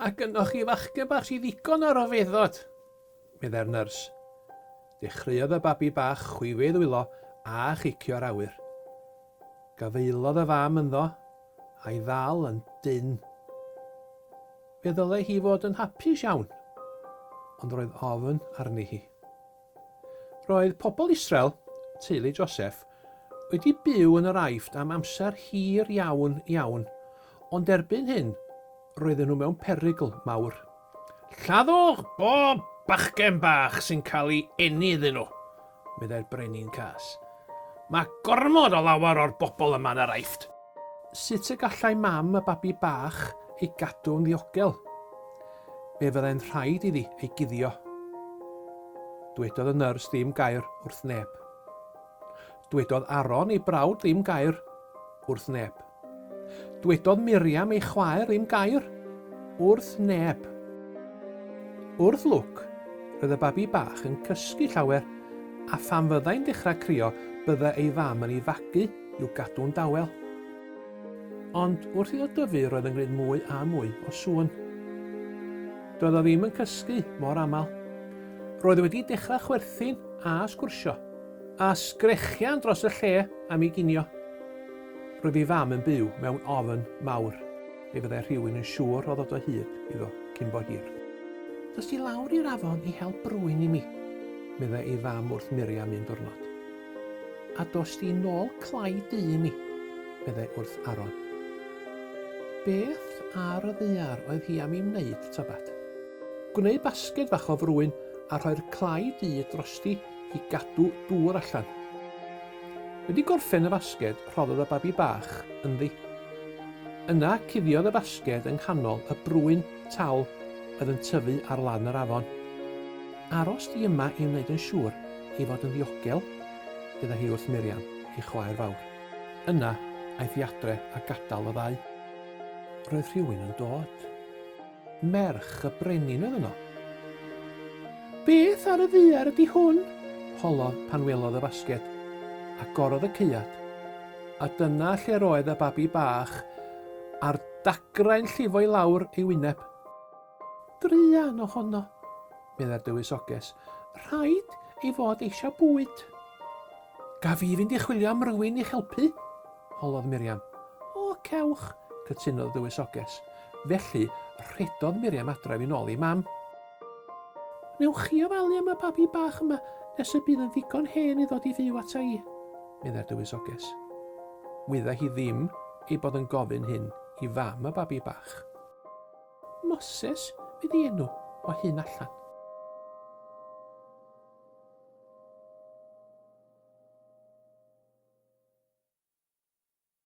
A gynoch chi fachgen bach sydd ddigon ar ofeddod, meddai'r nyrs. Dechreuodd y babi bach chwifio ei ddwylo a chicio'r awyr. Gafaelodd y fam ynddo, a'i ddal yn dynn. Fe ddylai hi fod yn hapus iawn, ond roedd ofn arni hi. Roedd pobl Israel, teulu Joseff, wedi byw yn yr Aifft am amser hir iawn, iawn, ond erbyn hyn roedden nhw mewn perygl mawr. Lladdwch bob bachgen bach sy'n cael ei eni iddyn nhw! meddai'r brenin cas. Mae gormod o lawer o'r bobl yma yn yr Aifft! Sut y gallai mam y babi bach ei gadw'n ddiogel? Fe fyddai'n rhaid iddi ei guddio. Dwedodd y nyrs ddim gair wrth neb. Dwedodd Aaron ei brawd ddim gair wrth neb. Dwedodd Miriam ei chwaer un gair, wrth neb. Wrth lwc, roedd y babi bach yn cysgu llawer, a phan fyddai'n dechrau crio byddai ei fam yn ei fagu i'w gadw'n dawel. Ond wrth iddo dyfu roedd yn gwneud mwy a mwy o sŵn. Doedd o ddim yn cysgu mor aml. Roedd wedi dechrau chwerthin a sgwrsio, a sgrechian dros y lle am ei ginio. Roedd ei fam yn byw mewn ofn mawr ei fyddai rhywun yn siŵr o ddod o hyd iddo cyn bo hir. Dos di lawr i'r afon i hel brwyn i mi, meddai ei fam wrth Miriam un diwrnod. A dos di nôl clai du i mi, meddai wrth Aaron. Beth ar y ddaear oedd hi am i wneud tybed? Gwneud basged fach o frwyn a rhoi'r clai du drosti i gadw dŵr allan. Wedi gorffen y fasged, rhoddodd y babi bach ynddi. Yna, cuddiodd y fasged yng nghanol y brwyn tal oedd yn tyfu ar lan yr afon. Aros di yma i wneud yn siŵr ei fod yn ddiogel, fydda hi wrth Miriam, ei chwaer fawr. Yna, aeth hi adre a gadael y ddau. Roedd rhywun yn dod. Merch y brenin oedd yno. Beth ar y ddaear ydy hwn? holodd pan welodd y fasged. Agorodd y caead. A dyna lle roedd y babi bach a'r dagrau'n llifo i lawr ei wyneb. Druan ohono. meddai'r dywysoges. Rhaid ei fod eisiau bwyd. Gaf i fynd i chwilio am rywun i'ch helpu? holodd Miriam. O, cewch, cytunodd y dywysoges. Felly, rhedodd Miriam adref yn ôl ei mam. Wnewch chi ofalu am y babi bach yma nes y bydd yn ddigon hen i ddod i fyw ata i? meddai'r dywysoges. Wyddai hi ddim ei bod yn gofyn hyn i fam y babi bach. Moses fydd ei enw, o hyn allan.